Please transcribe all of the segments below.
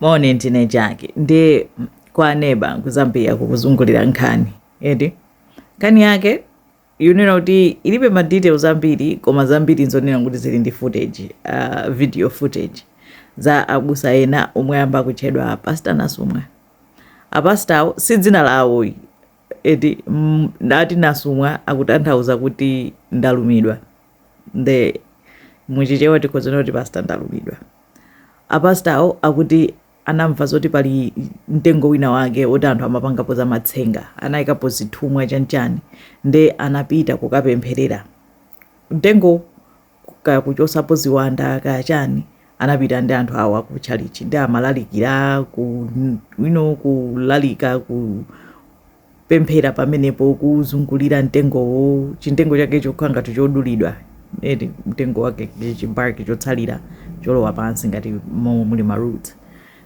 maone ntine chake ndi kwa neba kuzambia kukuzungulira nkhani eti nkhani yake yonena kuti ilibe ma details ambiri koma zambiri nzoona kuti zili ndi footage uh, video footage za abusa ena omwe amba kutchedwa apasta nasumwa apastawo si dzina lawo eti mm, akuti nasumwa akutanthauza kuti ndalumidwa nde muchichewa tikhoza kunena kuti pasta ndalumidwa Apastawo akuti anamva zoti pali mtengo wina wake oti anthu amapangapo za matsenga, anaikapo zithumwa chanchani nde anapita kukapempherera mtengowo kaya kuchosapo ziwanda kaya chani anapita ndi anthu awo aku chalichi nde amalalikira ku you know kulalika ku pemphera pamenepo kuzungulira mtengowo chimtengo chake chokhala ngati chodulidwa eti mtengo wake chibark chotsalira cholowa pansi ngati momwe muli maroot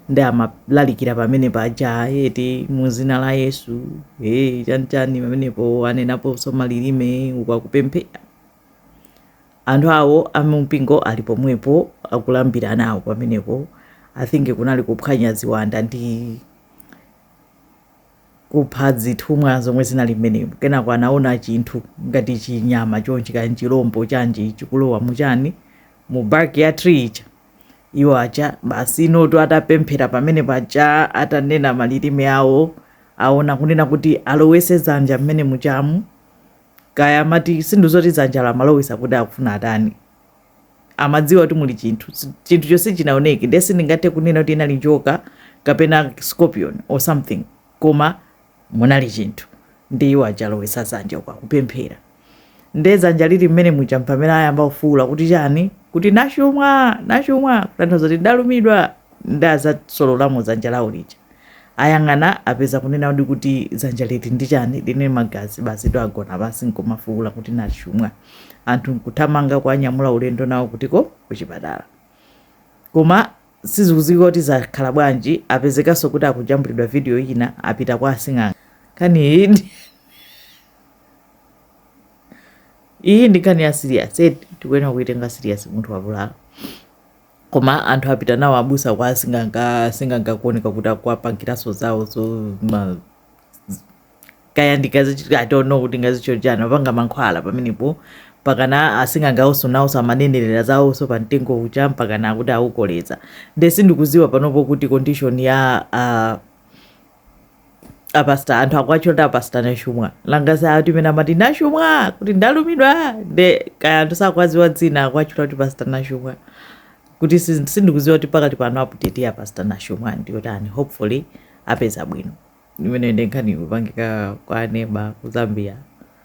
nde amalalikira pamene paja eti mu zina la yesu e chanichani pamenepo anenaponso malilime uku akupemphera anthu awo amumpingo ali pomwepo akulambira nawo pamenepo i think kunali kuphwanya ziwanda ndi kupha zithumwa zomwe zinali mmenemo. Kenako anaona chinthu ngati chinyama chonchi, kaya n'chilombo chanji, chikulowa mu chani, mu bark ya tree ija. Iwo aja basi I think atapemphera pamene paja atanena malilime awo aona kunena kuti alowese dzanja mmene mujamu kaya amati sindidziwa kuti dzanja amalowesa kuti akufuna atani amadziwa kuti muli chinthu chinthucho sichinaoneke ndiye sindingathe kunena kuti inali njoka kapena scorpion or something koma munali chinthu ndi iwo aja alowesa zanja uku akupemphera nde zanja lili mmene muja mpamene ayamba kufuula kuti chani kuti nasumwa nasumwa kutanthauza kuti ndalumidwa nde adzasololamo dzanja lawo lija. Ayang'ana, apeza kunena ndi kuti dzanja lili ndi chani, lili ndi magazi basitu agona pansi nkumafuula kuti nasumwa. Anthu nkuthamanga kuwanyamula ulendo nawo kutiko kuchipatala. Koma sizikudziwika kuti zakhala bwanji, apezekanso kuti akujambulidwa video ina apita kwa asing'anga. Iyi ndi nkhani ya serious eti tikuyenera kuitenga serious munthu wavulala. Koma anthu apita nawo abusa kwa asing'anga, asing'anga kuoneka kuti akuwapangiranso zawo zo ma z- kaya ndi akazi I don't know kuti kaya zichanichani apanga mankhwala pamenepo mpakana asing'anga awonso nawonso amanenerera zawonso pa mtengo uja mpakana akuti awukoleza nde sindikuziwa panopo kuti condition ya uh, apastor anthu akuwatchula kuti apastor nashumwa langazi ati mene amati nashumwa kuti ndalumidwa nde kaya anthu sakwaziwa dzina akuwatchula kuti pastor nashumwa kuti si- sindikuziwa kuti pakati pano update ya pastor nashumwa ndiyotani hopefully apeza bwino imene nde nkhani ikupangika kwa neba ku zambia